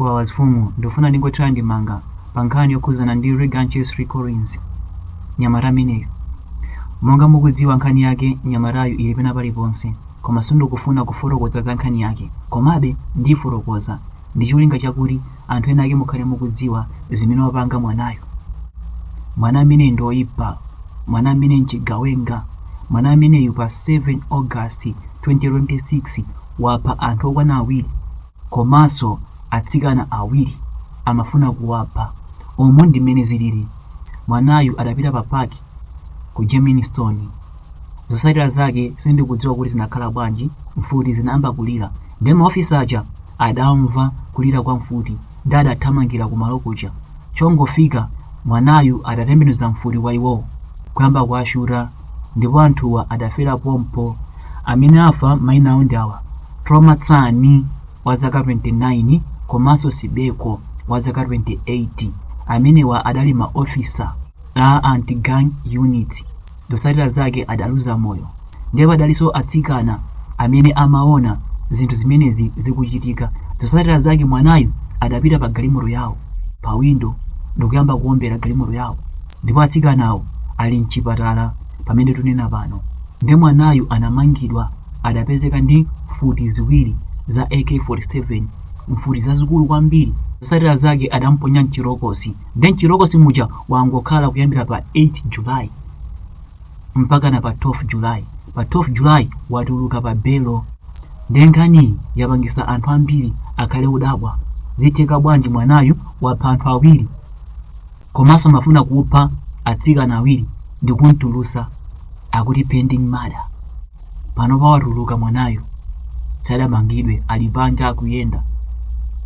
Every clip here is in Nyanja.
Wawa azifumu ndikufuna ndingothira ndemanga pa nkhani yokhuzana ndi Reganches Ricorins nyamata ameneyu. Monga mukudziwa nkhani yake nyamatayu ili pena paliponse koma sindikufuna kufotokoza za nkhani yake komabe ndiifotokoza ndicholinga chakuti anthu ena ake mukhale mukudziwa zimene wapanga mwanayu. Mwana ameneyi ndi oyipa, mwana ameneyi nchigawenga, mwana ameneyu pa 7 August 2026 wapha anthu okwana awiri. Komanso atsikana awiri amafuna kuwapha umu ndi mmene zilili mwanayu adapita pa park ku Germiston zotsatira zake sindikudziwa kuti zinakhala bwanji mfuti zinayamba kulira nde ma officer aja adamva kulira kwa mfuti nde adathamangira ku malo kuja chongofika mwanayu adatembenuza mfuti kwa iwowo kuyamba kuwashuta ndipo anthuwa adafera pompo. Amene afa maina awo ndi awa, Troma Tsani wa zaka 29 komanso Sibeko wa zaka 28. Amenewa adali ma officer a anti gang unit. Zotsatira zake adaluza moyo. Ndipo padalinso atsikana amene amaona zinthu zimenezi zikuchitika. Zotsatira zake mwanayu adapita pa galimoto yawo, pawindo ndikuyamba kuombera galimoto yawo. ndipo atsikanawo ali mchipatala pamene tunena pano nde mwanayu anamangidwa adapezeka ndi mfuti ziwiri za AK47 mfuti zazikulu kwambiri zotsatira zake adamponya mchirokosi nde mchirokosi muja wangokhala kuyambira pa 8 July mpakana pa 12 July pa 12 July watuluka pa belo nde nkhaniyi yapangisa anthu ambiri akhale odabwa zitheka bwanji mwanayu wapha anthu awiri komanso amafuna kupha atsikana awiri ndikumtulusa akuti pending murder pano pawatuluka mwanayu sadamangidwe ali panja akuyenda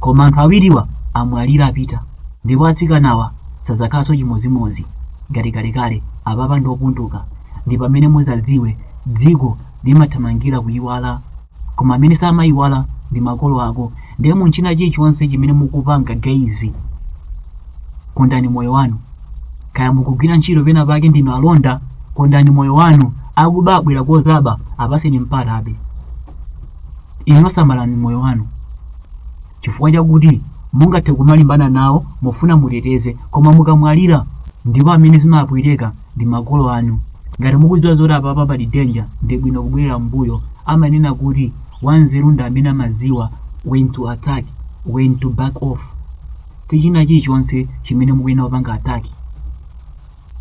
koma anthu awiriwa amwalira apita ndipo atsikanawa sadzakhalanso chimodzimodzi ngati kalekale apapa ndiopunduka ndi pamene muzadziwe dziko limathamangira kuyiwala koma amene samayiwala ndi makolo ako ndiye munchina chilichonse chimene mukupanga guys kondani moyo wanu kaya mukugwira ntchito pena pake ndinu alonda kondani moyo wanu akuba abwera kudzaba apatseni mpata abe inu samalani moyo wanu chifukwa chakuti mungathe kumalimbana nawo mufuna muteteze koma mukamwalira ndipo amene zimapweteka ndi makolo anu ngati mukudziwa zoti apapa pali danger ndi bwino kubwerera mbuyo amanena kuti wanzeru ndi amene amadziwa when to attack when to back off sichina chilichonse chimene mukuyenera kupanga attack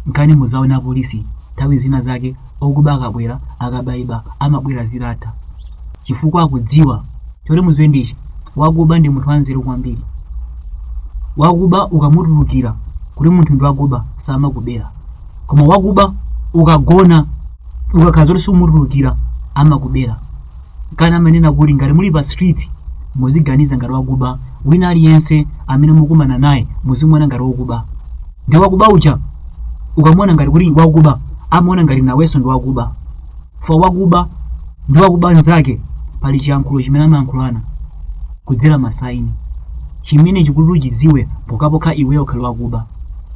Nkani muzaona apolisi nthawi zina zake okuba akabwera akabaiba amabwera zitatha chifukwa akudziwa choti muziwe ndichi wakuba ndi munthu wanzeru kwambiri wakuba ukamutulukira kuti munthu ndi wakuba samakubera koma wakuba ukagona ukakhala zoti sumutulukira amakubera Kale amanena kuti ngati muli pa street muziganiza ngati wakuba, wina aliyense amene mukumana naye muzimuona ngati wakuba. Ndi wakuba uja ukamuona ngati kuti wakuba, amaona ngati nawenso ndi wakuba. For wakuba ndi wakuba nzake pali chiyankhulo chimene amayankhulana kudzera masaini chimene chikuti uchidziwe pokhapokha iweyo ukhale wakuba.